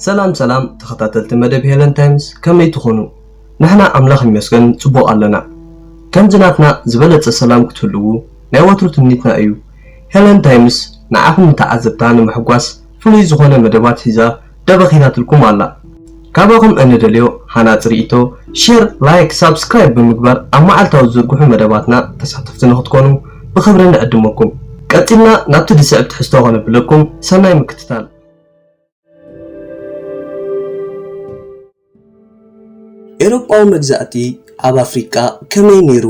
ሰላም ሰላም ተኸታተልቲ መደብ ሄለን ታይምስ ከመይ ትኾኑ? ንሕና ኣምላኽ ይመስገን ጽቡቕ ኣለና። ከምዚ ናትና ዝበለጸ ሰላም ክትህልዉ ናይ ወትሩ ትምኒትና እዩ። ሄለን ታይምስ ንዓኹም ንተዓዘብታ ንምሕጓስ ፍሉይ ዝኾነ መደባት ሒዛ ደበኺታትልኩም ኣላ። ካባኹም እንደልዮ ሃናጺ ርኢቶ፣ ሼር፣ ላይክ፣ ሳብስክራይብ ብምግባር ኣብ መዓልታዊ ዝዝርግሑ መደባትና ተሳተፍቲ ንኽትኮኑ ብኽብሪ ንዕድመኩም። ቀጺልና ናብቲ ዝስዕብ ትሕዝቶ ከነብለኩም፣ ሰናይ ምክትታል። ኤሮጳዊ መግዛእቲ ኣብ ኣፍሪቃ ከመይ ነይሩ?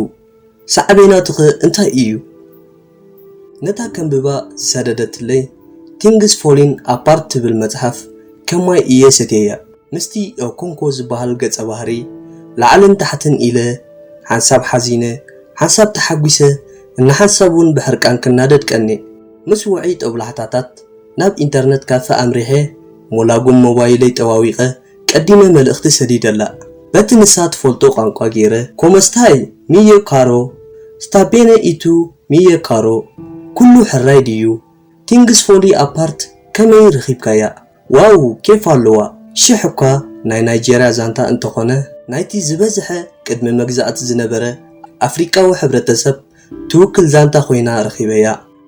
ሳዕቤናቱኸ እንታይ እዩ? ነታ ከንብባ ዝሰደደትለይ Things Falling Apart ትብል መጽሓፍ ከም ማይ እየ ሰትየያ። ምስቲ ኦኮንኮ ዝበሃል ገጸ ባህርይ ላዕልን ታሕትን ኢለ፣ ሓንሳብ ሓዚነ፣ ሓንሳብ ተሓጒሰ፣ እንሓንሳብ'ውን ብሕርቃን ክናደድ ቀንየ። ምስ ውዑይ ጦብላሕታታት፣ ናብ ኢንተርነት ካፈ ኣምሪሐ፣ ሞላጉም ሞባይለይ ጠዋዊቐ፣ ቀዲመ መልእኽቲ ሰዲደላ። በቲ ንሳ ትፈልጦ ቋንቋ ገይረ፣ ኮሞስታይ? ሚዮ ካሮ? ስታ ቤነ ኢ ቱ? ሚዮ ካሮ? ኩሉ ሕራይ ድዩ? ቲንግስ ፎሊ ኣፓርት? ከመይ ርኺብካያ? ዋው ኬፍ ኣለዋ ሽሕ እኳ ናይ ናይጀርያ ዛንታ እንተኾነ ናይቲ ዝበዝሐ ቅድሚ መግዛእቲ ዝነበረ ኣፍሪቃዊ ሕብረተሰብ ትውክል ዛንታ ኮይና ረኺበያ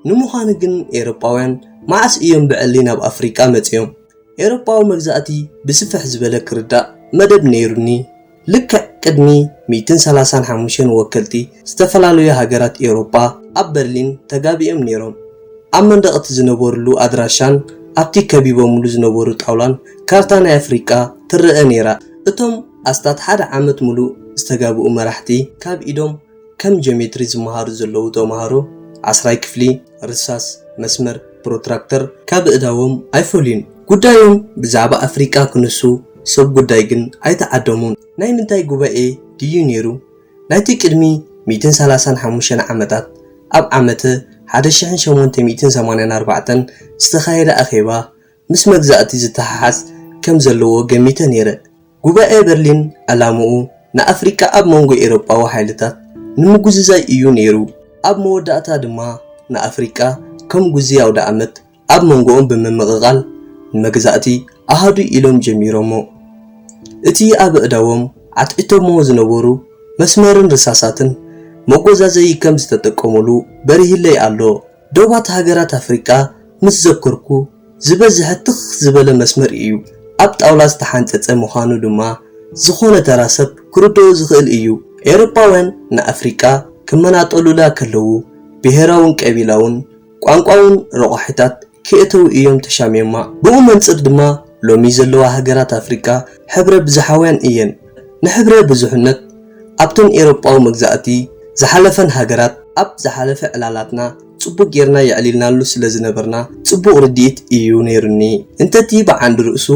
ንምዃኑ ግን ኤሮጳውያን መዓስ እዮም ብዕሊ ናብ ኣፍሪቃ መጺኦም ኤሮጳዊ መግዛእቲ ብስፍሕ ዝበለ ክርዳእ መደብ ነይሩኒ ልክዕ ቅድሚ ሚእትን ሰላሳን ሓሙሽተን ወከልቲ ዝተፈላለዩ ሃገራት ኤውሮጳ ኣብ በርሊን ተጋቢኦም ነይሮም። ኣብ መንደቕ እቲ ዝነበርሉ ኣድራሻን ኣብቲ ከቢቦምሉ ዝነበሩ ጣውላን ካርታ ናይ ኣፍሪቃ ትረኣ ነይራ። እቶም ኣስታት ሓደ ዓመት ምሉእ ዝተጋብኡ መራሕቲ ካብ ኢዶም ከም ጂኦሜትሪ ዝመሃሩ ዘለዉ ተመሃሮ ዓስራይ ክፍሊ ርሳስ፣ መስመር፣ ፕሮትራክተር ካብ ኣእዳዎም ኣይፈልዩን። ጉዳዮም ብዛዕባ ኣፍሪቃ ክነሱ ሰብ ጉዳይ ግን ኣይተዓደሙን። ናይ ምንታይ ጉባኤ ድዩ ነይሩ? ናይቲ ቅድሚ ሚእትን ሰላሳን ሓሙሽተን ዓመታት ኣብ ዓመተ ሓደ ሽሕን ሸሞንተ ሚእትን ሰማንያን ኣርባዕተን ዝተኻየደ ኣኼባ ምስ መግዛእቲ ዝተሓሓዝ ከም ዘለዎ ገሚተ ነይረ። ጉባኤ በርሊን ዕላምኡ ንኣፍሪቃ ኣብ መንጎ ኤሮጳዊ ሓይልታት ንምጉዝዛይ እዩ ነይሩ። ኣብ መወዳእታ ድማ ንኣፍሪቃ ከም ጉዝይ ኣውደኣመት ኣብ መንጎኦም ብምምቕቓል ንመግዛእቲ ኣሃዱ ኢሎም ጀሚሮሞ። እቲ ኣብ ኣእዳዎም ዓትዒቶሞ ዝነበሩ መስመርን ርሳሳትን መጎዛዘዪ ከም ዝተጠቀሙሉ በሪሂለይ ኣሎ። ዶባት ሃገራት ኣፍሪቃ ምስ ዘከርኩ፣ ዝበዝሐ ትኽ ዝበለ መስመር ኢዩ፣ ኣብ ጣውላ ዝተሓንጸጸ ምዃኑ ድማ ዝኾነ ተራ ሰብ ክርድኦ ዝኽእል ኢዩ። ኤውሮጳውያን ንኣፍሪቃ ክመናጠሉላ ከለዉ፣ ብሄራውን ቀቢላውን ቋንቋውን ረቋሒታት ክየእተዉ ኢዮም ተሻሚዮማ። ብኡ መንጽር ድማ ሎሚ ዘለዋ ሃገራት ኣፍሪቃ ሕብረ-ብዝሓውያን ኢየን። ንሕብረ ብዙሕነት ኣብተን ኤሮጳዊ መግዛእቲ ዝሓለፈን ሃገራት ኣብ ዝሓለፈ ዕላላትና ጽቡቕ ጌርና የዕሊልናሉ ስለ ዝነበርና ጽቡቕ ርድኢት ኢዩ ነይሩኒ። እንተ'ቲ ብዓንዲ ርእሱ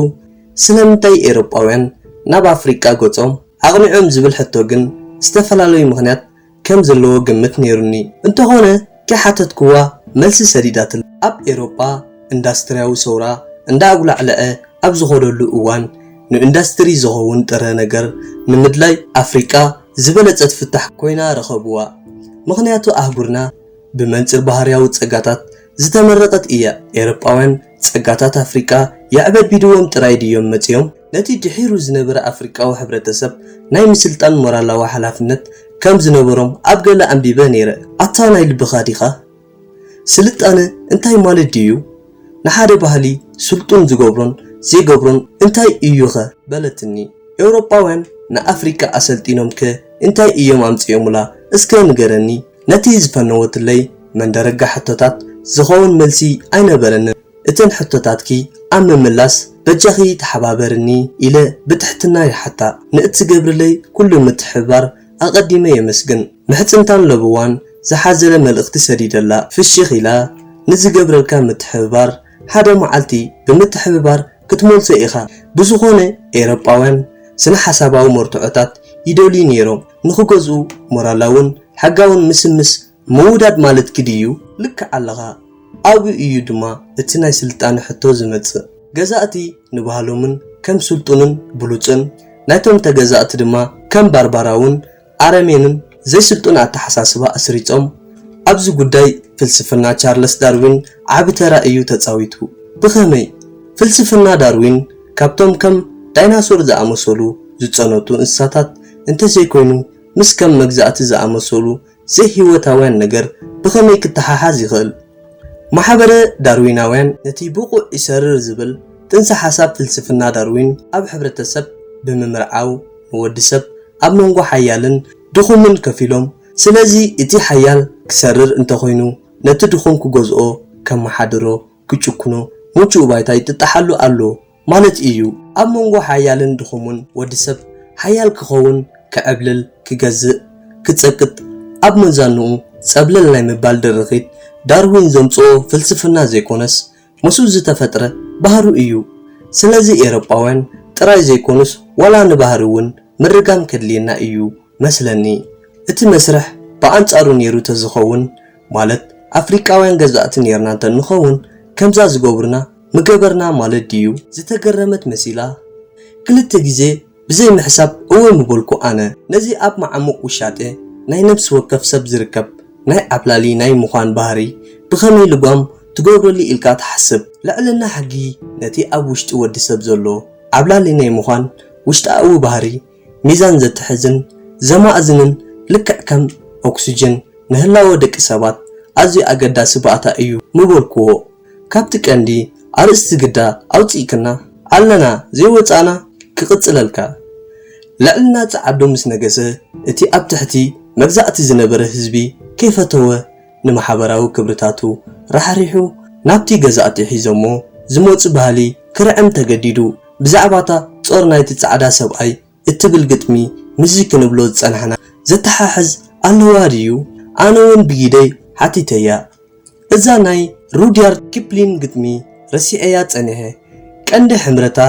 ስለምንታይ ኤሮጳውያን ናብ ኣፍሪቃ ገጾም ኣቕኒዖም ዝብል ሕቶ ግን ዝተፈላለዩ ምኽንያት ከም ዘለዎ ግምት ነይሩኒ። እንተኾነ ከይሓተትክዋ መልሲ ሰዲዳትለይ። ኣብ ኤውሮጳ እንዳስትርያዊ ሰውራ እንዳኣጉላዕለዐ ኣብ ዝኸደሉ እዋን ንእንዳስትሪ ዝኸውን ጥረ ነገር ንምድላይ ኣፍሪቃ ዝበለጸት ፍታሕ ኮይና ረኸብዋ። ምኽንያቱ ኣህጉርና ብመንጽር ባህርያዊ ጸጋታት ዝተመረቐት እያ። ኤውሮጳውያን ጸጋታት ኣፍሪቃ የዕበድቢድዎም ጥራይ ድዮም መጺኦም? ነቲ ድሒሩ ዝነበረ ኣፍሪቃዊ ሕብረተሰብ ናይ ምስልጣን ሞራላዊ ሓላፍነት ከም ዝነበሮም ኣብ ገለ ኣንቢበ ነይረ። ኣታ ናይ ልብኻ ዲኻ? ስልጣነ እንታይ ማለት ድዩ? ንሓደ ባህሊ ስልጡን ዝገብሮን ዘይገብሮን እንታይ እዩኸ? በለትኒ። ኤውሮጳውያን ንኣፍሪቃ ኣሰልጢኖምከ እንታይ እዮም ኣምጺኦሙላ እስከ ንገረኒ? ነቲ ዝፈነወትለይ መንደረጋ ሕቶታት ዝኸውን መልሲ ኣይነበረንን። እተን ሕቶታትኪ ኣብ ምምላስ በጃኺ ተሓባበርኒ ኢለ ብትሕትና ይሓታ። ንእትገብርለይ ኩሉ ምትሕብባር ኣቐዲመ የመስግን። ምሕጽንታን ለበዋን ዝሓዘለ መልእኽቲ ሰዲደላ። ፍሽኽ ኢላ፣ ንዝገብረልካ ምትሕብባር ሓደ መዓልቲ ብምትሕብባር ክትመልሶ ኢኻ። ብዝኾነ ኤውሮጳውያን ስነ-ሓሳባዊ መርትዖታት ይደልዩ ነይሮም፣ ንኽገዝኡ ሞራላውን ሕጋውን ምስምስ ምውዳድ ማለት ግዲ እዩ ልክዕ ኣለኻ ኣብኡ እዩ ድማ እቲ ናይ ስልጣነ ሕቶ ዝመጽእ ገዛእቲ ንባህሎምን ከም ስልጡንን ብሉጽን ናይቶም ተገዛእቲ ድማ ከም ባርባራውን ኣረሜንን ዘይስልጡን ኣተሓሳስባ ኣስሪጾም ኣብዚ ጉዳይ ፍልስፍና ቻርለስ ዳርዊን ዓቢ ተራ እዩ ተጻዊቱ ብኸመይ ፍልስፍና ዳርዊን ካብቶም ከም ዳይናሶር ዝኣመሰሉ ዝጸነቱ እንስሳታት እንተዘይኮይኑ ምስ ከም መግዛእቲ ዝኣመሰሉ ዘይህይወታውያን ነገር ብኸመይ ክተሓሓዝ ይኽእል? ማሕበረ ዳርዊናውያን ነቲ ብቑዕ ይሰርር ዝብል ጥንሰ ሓሳብ ፍልስፍና ዳርዊን ኣብ ሕብረተሰብ ብምምርዓው ንወዲ ሰብ ኣብ መንጎ ሓያልን ድኹምን ከፊሎም ስለዚ እቲ ሓያል ክሰርር እንተኾይኑ ነቲ ድኹም ክገዝኦ ከመሓድሮ ክጭኩኖ ምቹእ ባይታ ይጥጣሓሉ ኣሎ ማለት ኢዩ ኣብ መንጎ ሓያልን ድኹሙን ወዲ ሰብ ሓያል ክኸውን ክዕብልል ክገዝእ ክጸቅጥ ኣብ መዛንኡ ጸብለል ናይ ምባል ድርኺት ዳርዊን ዘምጽኦ ፍልስፍና ዘይኮነስ ምስኡ ዝተፈጥረ ባህሩ ኢዩ ስለዚ ኤሮጳውያን ጥራይ ዘይኮኑስ ዋላ ንባህሪ ውን ምርጋም ከድልየና ኢዩ መስለኒ እቲ መስርሕ ብኣንጻሩ ኔሩ ተዝኸውን ማለት ኣፍሪቃውያን ገዛእቲ ኔርና እንተንኸውን ከምዛ ዝገብሩና ምገበርና ማለት ድዩ? ዝተገረመት መሲላ ክልተ ግዜ ብዘይ ምሕሳብ እወ ምበልኩ ኣነ። ነዚ ኣብ መዓሙቕ ውሻጠ ናይ ነብሲ ወከፍ ሰብ ዝርከብ ናይ ዓብላሊ ናይ ምዃን ባህሪ ብኸመይ ልጓም ትገብረሉ ኢልካ ትሓስብ። ልዕልና ሕጊ ነቲ ኣብ ውሽጢ ወዲ ሰብ ዘሎ ዓብላሊ ናይ ምዃን ውሽጣኣዊ ባህሪ ሚዛን ዘትሕዝን ዘማእዝንን ልክዕ ከም ኦክስጅን ንህላወ ደቂ ሰባት ኣዝዩ ኣገዳሲ ባእታ እዩ ምበልኩዎ ካብቲ ቀንዲ ኣርእስቲ ግዳ ኣውጺእክና ኣለና ዘይወጻእና ክቅጽለልካ ልዕልና ጸዓዱ ምስ ነገሰ እቲ ኣብ ትሕቲ መግዛእቲ ዝነበረ ህዝቢ ከይፈተወ ንማሕበራዊ ክብርታቱ ራሕሪሑ ናብቲ ገዛእቲ ሒዞሞ ዝመጹ ባህሊ ክርዕም ተገዲዱ። ብዛዕባ'ታ ጾር ናይቲ ጻዕዳ ሰብኣይ እትብል ግጥሚ ምስዚ ክንብሎ ዝጸናሕና ዘተሓሕዝ ኣለዋ ድዩ? ኣነ'ውን ብጊደይ ሓቲተያ። እዛ ናይ ሩድያርድ ኪፕሊን ግጥሚ ረሲዐያ ጸኒሐ። ቀንዲ ሕምረታ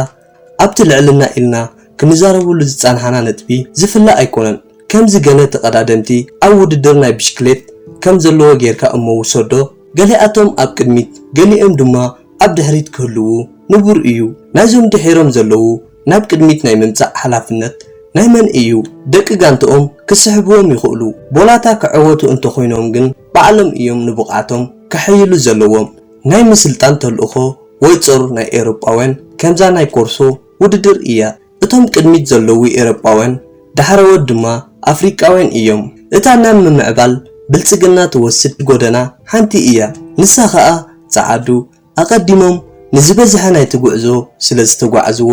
ኣብቲ ልዕልና ኢልና ክንዛረበሉ ዝጸናሕና ነጥቢ ዝፍለ ኣይኮነን። ከምዚ ገለ ተቐዳደምቲ ኣብ ውድድር ናይ ብሽክሌት ከም ዘለዎ ጌርካ እሞ ውሰዶ፣ ገሊኣቶም ኣብ ቅድሚት ገሊኦም ድማ ኣብ ድሕሪት ክህልዉ ንቡር እዩ። ናይዞም ድሒሮም ዘለዉ ናብ ቅድሚት ናይ ምምጻእ ሓላፍነት ናይ መን እዩ? ደቂ ጋንትኦም ክስሕብዎም ይኽእሉ፣ ቦላታ ክዕወቱ እንተኾይኖም ግን ባዕሎም እዮም ንብቕዓቶም ከሐይሉ ዘለዎም። ናይ ምስልጣን ተልእኾ ወይ ጾር ናይ ኤሮጳውያን ከምዛ ናይ ኮርሶ ውድድር እያ። እቶም ቅድሚት ዘለዉ ኤሮጳውያን ዳሕረዎት ድማ ኣፍሪቃውያን እዮም። እታ ናብ ምምዕባል ብልጽግና ትወስድ ጎደና ሓንቲ እያ። ንሳ ከኣ ጸዓዱ ኣቐዲሞም ንዝበዝሐ ናይቲ ጉዕዞ ስለ ዝተጓዕዝዎ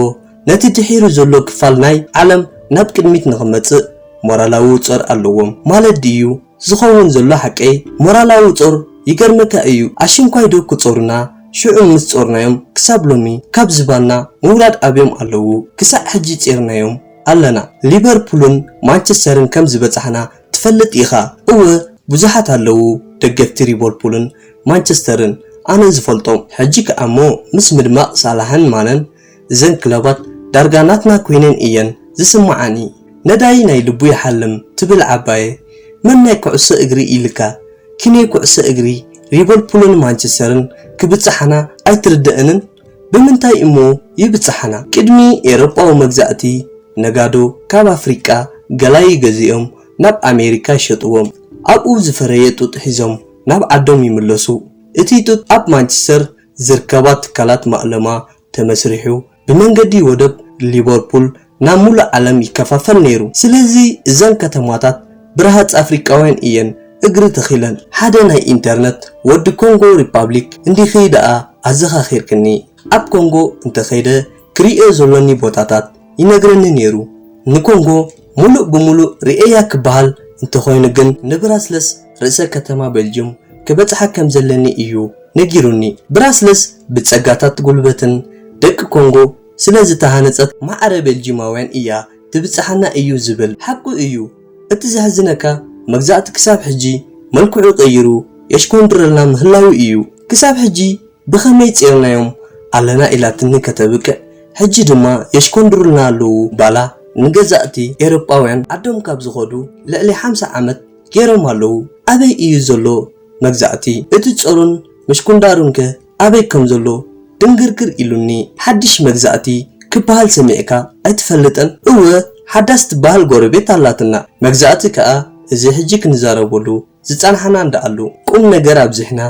ነቲ ድሒሩ ዘሎ ክፋል ናይ ዓለም ናብ ቅድሚት ንኽመጽእ ሞራላዊ ጾር ኣለዎም ማለት ድዩ? ዝኸውን ዘሎ ሓቂ ሞራላዊ ጾር ይገርመካ እዩ ኣሽንኳይ ዶ ክጾሩና ሽዑ ምስ ጾርናዮም ክሳብ ሎሚ ካብ ዝባንና ምውራድ ኣብዮም ኣለዉ ክሳዕ ሕጂ ጼርናዮም ኣለና ሊበርፑልን ማንቸስተርን ከም ዝበጻሕና ትፈልጥ ኢኻ እወ ብዙሓት ኣለዉ ደገፍቲ ሪበርፑልን ማንቸስተርን ኣነ ዝፈልጦም ሕጂ ከኣ እሞ ምስ ምድማቕ ሳላሕን ማነን እዘን ክለባት ዳርጋ ናትና ኮይነን እየን ዝስመዓኒ ነዳይ ናይ ልቡ ይሓልም ትብል ዓባየ መን ናይ ኩዕሶ እግሪ ኢልካ ኪኔ ኩዕሶ እግሪ ሪቨልፑልን ማንቸስተርን ክብጽሓና ኣይትርደእንን ብምንታይ እሞ ይብጽሓና ቅድሚ ኤሮጳዊ መግዛእቲ ነጋዶ ካብ ኣፍሪቃ ገላይ ገዚኦም ናብ ኣሜሪካ ይሸጥዎም ኣብኡ ዝፈረየ ጡጥ ሒዞም ናብ ዓዶም ይምለሱ እቲ ጡጥ ኣብ ማንቸስተር ዝርከባ ትካላት ማእለማ ተመስሪሑ ብመንገዲ ወደብ ሊበርፑል ናብ ሙሉእ ዓለም ይከፋፈል ነይሩ። ስለዚ እዘን ከተማታት ብረሃፅ ኣፍሪቃውያን እየን እግሪ ተኺለን። ሓደ ናይ ኢንተርነት ወዲ ኮንጎ ሪፓብሊክ እንዲኺ ደኣ ኣዘኻኺርክኒ። ኣብ ኮንጎ እንተኸይደ ክርእዮ ዘሎኒ ቦታታት ይነግረኒ ነይሩ። ንኮንጎ ሙሉእ ብሙሉእ ርእየያ ክበሃል እንተኾይኑ ግን ንብራስለስ ርእሰ ከተማ ቤልጁም ክበጽሓ ከም ዘለኒ እዩ ነጊሩኒ። ብራስለስ ብጸጋታት ጉልበትን ደቂ ኮንጎ ስለ ዝተሃነጸት ማዕረ ቤልጂማውያን እያ ትብጽሓና እዩ ዝብል። ሓቁ እዩ። እቲ ዘሕዝነካ መግዛእቲ ክሳብ ሕጂ መልክዑ ቀይሩ የሽኮንድረልና ምህላዉ እዩ። ክሳብ ሕጂ ብኸመይ ጼርናዮም ኣለና ኢላትኒ ከተብቅዕ ሕጂ ድማ የሽኮንድሩልና ኣለዉ ባላ ንገዛእቲ ኤሮጳውያን ዓዶም ካብ ዝኸዱ ልዕሊ ሓምሳ ዓመት ጌሮም ኣለዉ ኣበይ እዩ ዘሎ መግዛእቲ እቲ ጸሩን መሽኩንዳሩን ከ ኣበይ ከም ዘሎ ድንግርግር ኢሉኒ ሓድሽ መግዛእቲ ክብሃል ሰሚዕካ ኣይትፈልጥን እወ ሓዳስ ትብሃል ጎረቤት ኣላትና መግዛእቲ ከኣ እዚ ሕጂ ክንዛረበሉ ዝጸናሕና እንድኣሉ ቁም ነገር ኣብዚሕና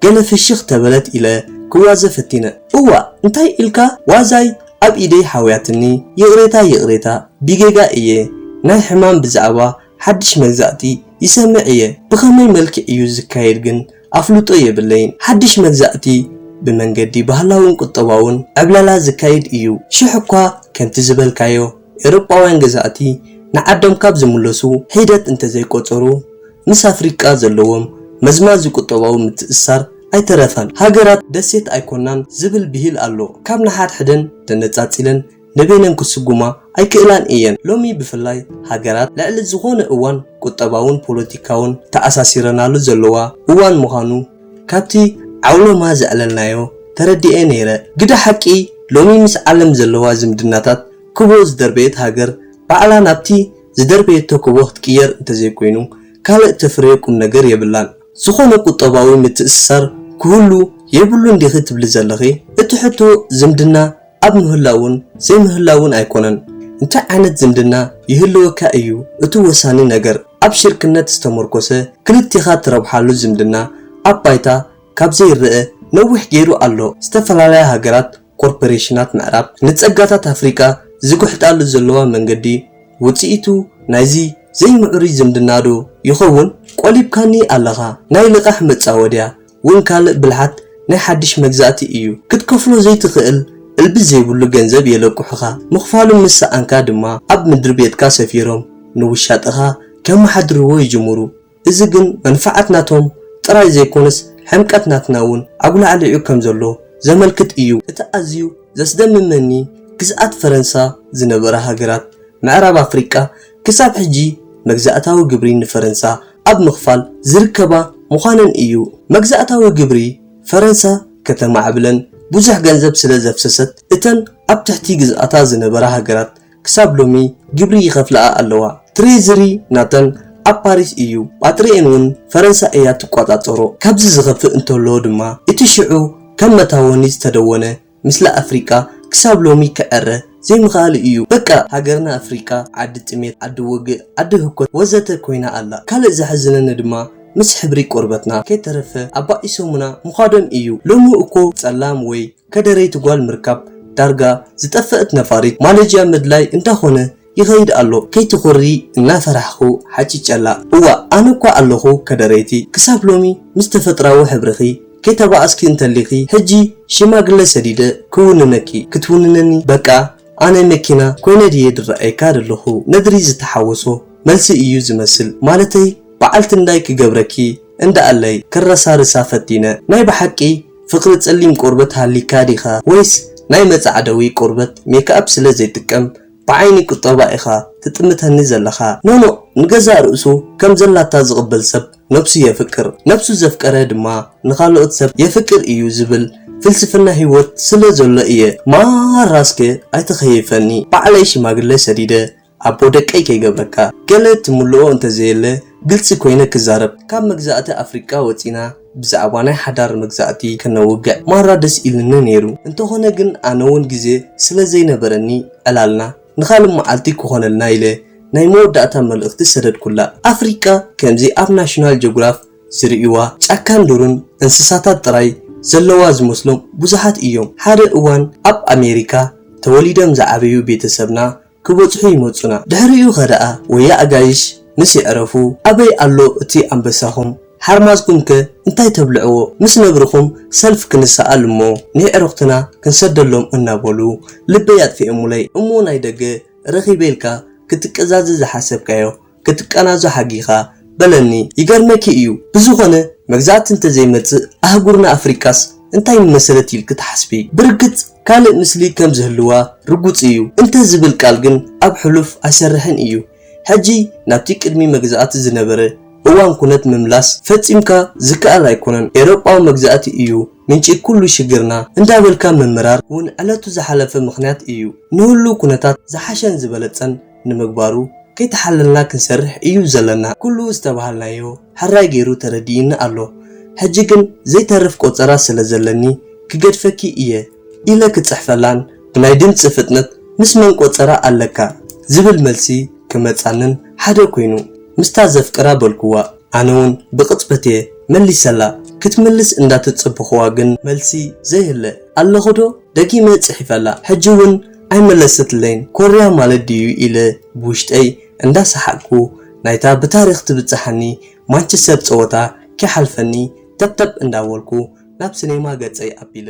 ገለ ፍሽኽ ተበለት ኢለ ክዋዘ ፈቲነ እዋእ እንታይ ኢልካ ዋዛይ ኣብ ኢደይ ሓውያትኒ ይቕሬታ ይቕሬታ ቢጌጋ እየ ናይ ሕማም ብዛዕባ ሓድሽ መግዛእቲ ይሰምዕ እየ ብኸመይ መልክዕ እዩ ዝካየድ ግን ኣፍልጦ የብለይን ሓድሽ መግዛእቲ ብመንገዲ ባህላውን ቁጠባውን ዕብለላ ዝካይድ እዩ ሽሕ እኳ ከምቲ ዝበልካዮ ኤሮጳውያን ገዛእቲ ንዓዶም ካብ ዝምለሱ ሒደት እንተዘይቆጸሩ ምስ ኣፍሪቃ ዘለዎም መዝማዚ ቁጠባዊ ምትእስሳር ኣይተረፈን ሃገራት ደሴት ኣይኮናን ዝብል ብሂል ኣሎ ካብ ንሓድሕደን ተነጻጺለን ንበይነን ክስጉማ ኣይክእላን እየን። ሎሚ ብፍላይ ሃገራት ልዕሊ ዝኾነ እዋን ቁጠባውን ፖለቲካውን ተኣሳሲረናሉ ዘለዋ እዋን ምዃኑ ካብቲ ዓውሎማ ዘዕለልናዮ ተረዲኤ ነይረ። ግደ ሓቂ ሎሚ ምስ ዓለም ዘለዋ ዝምድናታት ክቦ ዝደርበየት ሃገር ባዕላ ናብቲ ዝደርበየቶ ክቦ ክትቅየር እንተዘይኮይኑ ካልእ እተፍርዮ ቁምነገር የብላን። ዝኾነ ቁጠባዊ ምትእስሳር ክህሉ የብሉን ዲኺ ትብሊ ዘለኺ? እቲ ሕቶ ዝምድና ኣብ ምህላውን ዘይምህላውን ኣይኮነን እንታይ ዓይነት ዝምድና ይህልወካ እዩ እቲ ወሳኒ ነገር ኣብ ሽርክነት ዝተሞርኮሰ ክልቴኻ ትረብሓሉ ዝምድና ኣብ ባይታ ካብ ዘይረኣ ነዊሕ ገይሩ ኣሎ ዝተፈላለያ ሃገራት ኮርፐሬሽናት ምዕራብ ንጸጋታት ኣፍሪቃ ዝጉሕጣሉ ዘለዋ መንገዲ ውጽኢቱ ናይዚ ዘይምዕሩይ ዝምድናዶ ይኸውን ቆሊብካኒ ኣለኻ ናይ ልቓሕ መጻወድያ ውን ካልእ ብልሓት ናይ ሓድሽ መግዛእቲ እዩ ክትከፍሎ ዘይትኽእል እልቢ ዘይብሉ ገንዘብ የለቁሑኻ ምኽፋሉ ምስ ሰኣንካ ድማ ኣብ ምድሪ ቤትካ ሰፊሮም ንውሻጠኻ ከማሓድርዎ ይጅምሩ እዚ ግን መንፋዓት ናቶም ጥራይ ዘይኮነስ ሕምቀት ናትና ውን ኣጉላዕሊዑ ከም ዘሎ ዘመልክት እዩ። እቲ ኣዝዩ ዘስደምመኒ ግዝኣት ፈረንሳ ዝነበራ ሃገራት ምዕራብ ኣፍሪቃ ክሳብ ሕጂ መግዛእታዊ ግብሪ ንፈረንሳ ኣብ ምኽፋል ዝርከባ ምዃነን እዩ። መግዛእታዊ ግብሪ ፈረንሳ ከተማዕብለን ብዙሕ ገንዘብ ስለ ዘፍሰሰት፣ እተን ኣብ ትሕቲ ግዝኣታ ዝነበራ ሃገራት ክሳብ ሎሚ ግብሪ ይኸፍላኣ ኣለዋ። ትሬዝሪ ናተን ኣብ ፓሪስ እዩ፣ ጳጥሪኤን ውን ፈረንሳ እያ ትቆጻጸሮ። ካብዚ ዝኸፍእ እንተሎ ድማ እቲ ሽዑ ከም መታወኒ ዝተደወነ ምስሊ ኣፍሪቃ ክሳብ ሎሚ ክዕረ ዘይምኽኣሉ እዩ በቃ ሃገርና ኣፍሪቃ ዓዲ ጥሜት ዓዲ ውግእ ዓዲ ህኮት ወዘተ ኮይና ኣላ ካልእ ዘሕዝነኒ ድማ ምስ ሕብሪ ቆርበትና ከይተረፈ ኣባኢሶሙና ምዃዶም እዩ ሎሚ እኮ ጸላም ወይ ከደረይቲ ጓል ምርካብ ዳርጋ ዝጠፈእት ነፋሪት ማለጅያ ምድላይ እንዳኾነ ይኸይድ ኣሎ ከይትኹሪ እናፈራሕኹ ሓጪጨላ እዋእ ኣነ እኳ ኣለኹ ከደረይቲ ክሳብ ሎሚ ምስ ተፈጥራዊ ሕብርኺ ከይተባኣስኪ እንተሊኺ ሕጂ ሽማግለ ሰዲደ ክውንነኪ ክትውንነኒ በቃ ኣነ መኪና ኮይነ ድየ ድረኣየካ ደለኹ ነድሪ ዝተሓወሶ መልሲ እዩ ዝመስል ማለተይ በዓልቲ እንዳይ ክገብረኪ እንዳኣለይ ከረሳርሳ ፈቲነ ናይ በሓቂ ፍቅሪ ፀሊም ቆርበት ሃልይካ ዲኻ ወይስ ናይ መፃዕደዊ ቆርበት ሜክኣብ ስለ ዘይጥቀም ብዓይኒ ቁጠባ ኢኻ ትጥምተኒ ዘለኻ። ኖኖእ ንገዛእ ርእሱ ከም ዘላታ ዝቕበል ሰብ ነብሱ የፍቅር፣ ነብሱ ዘፍቀረ ድማ ንኻልኦት ሰብ የፍቅር እዩ ዝብል ፍልስፍና ሂወት ስለ ዘሎ እየ ማራ እስከ ኣይትኸይፈኒ ባዕለይ ሽማግለ ሰዲደ ኣቦ ደቀይ ከይገብረካ ገለ ትምልኦ እንተዘየለ ግልጺ ኮይነ ክዛረብ ካብ መግዛእቲ ኣፍሪቃ ወጺና ብዛዕባ ናይ ሓዳር መግዛእቲ ከነውግዕ ማራ ደስ ኢሉኒ ነይሩ እንተኾነ ግን ኣነ ውን ግዜ ስለ ዘይነበረኒ ዕላልና ንኻልእ መዓልቲ ክኾነልና ኢለ ናይ መወዳእታ መልእኽቲ ሰደድኩላ። ኣፍሪቃ ከምዚ ኣብ ናሽናል ጆግራፍ ዝርእይዋ ጫካን ዱርን እንስሳታት ጥራይ ዘለዋ ዝመስሎም ብዙሓት እዮም ሓደ እዋን ኣብ ኣሜሪካ ተወሊደም ዝዓበዩ ቤተሰብና ክበጽሑ ይመጹና ድሕሪኡ ከደኣ ወያ ኣጋይሽ ምስ የዕረፉ ኣበይ ኣሎ እቲ ኣንበሳኹም ሓርማዝኩም ከ እንታይ ተብልዕዎ ምስ ነብርኹም ሰልፍ ክንሰኣል እሞ ንየዕሩኽትና ክንሰደሎም እናበሉ ልበይ ኣጥፊኤሙለይ እሞ ናይ ደገ ረኺበ ኢልካ ክትቀዛዘ ዝሓሰብካዮ ክትቀናዞ ሓጊኻ በለኒ ይገርመኪ እዩ ብዝኾነ መግዛእቲ እንተዘይመጽእ ኣህጉርና ኣፍሪቃስ እንታይ ምመሰለት ኢልኪ ትሓስቢ ብርግጽ ካልእ ምስሊ ከም ዝህልዋ ርጉጽ እዩ እንተ ዝብል ቃል ግን ኣብ ሕሉፍ ኣይሰርሕን እዩ ሕጂ ናብቲ ቅድሚ መግዛእቲ ዝነበረ እዋን ኩነት ምምላስ ፈጺምካ ዝከኣል ኣይኮነን ኤሮጳዊ መግዛእቲ እዩ ምንጪ ኩሉ ሽግርና እንዳበልካ ምምራር ውን ዕለቱ ዝሓለፈ ምኽንያት እዩ ንህሉው ኩነታት ዝሓሸን ዝበለጸን ንምግባሩ ከይተሓለልና ክንሰርሕ እዩ ዘለና። ኩሉ ዝተባሃልናዮ ሕራይ ገይሩ ተረዲኡኒ ኣሎ። ሕጂ ግን ዘይተርፍ ቆጸራ ስለ ዘለኒ ክገድፈኪ እየ ኢለ ክጽሕፈላን ብናይ ድምጺ ፍጥነት ምስ መን ቆጸራ ኣለካ ዝብል መልሲ ክመጻንን ሓደ ኮይኑ። ምስታ ዘፍቅራ በልኩዋ። ኣነውን ብቕጽበት'የ መሊሰላ። ክትምልስ እንዳተጸበኹዋ ግን። መልሲ ዘይህለ። ኣለኹ'ዶ? ደጊመ ጽሒፈላ። ሕጂ'ውን። ኣይመለሰትለይን ኮርያ ማለት ድዩ ኢለ ብውሽጠይ እንዳ ሰሓቅኩ ናይታ ብታሪክ ትብጽሓኒ ማንችሰር ጸወታ ከይሓልፈኒ ተብ ተብ እንዳ በልኩ ናብ ስኔማ ገጸይ ኣቢለ።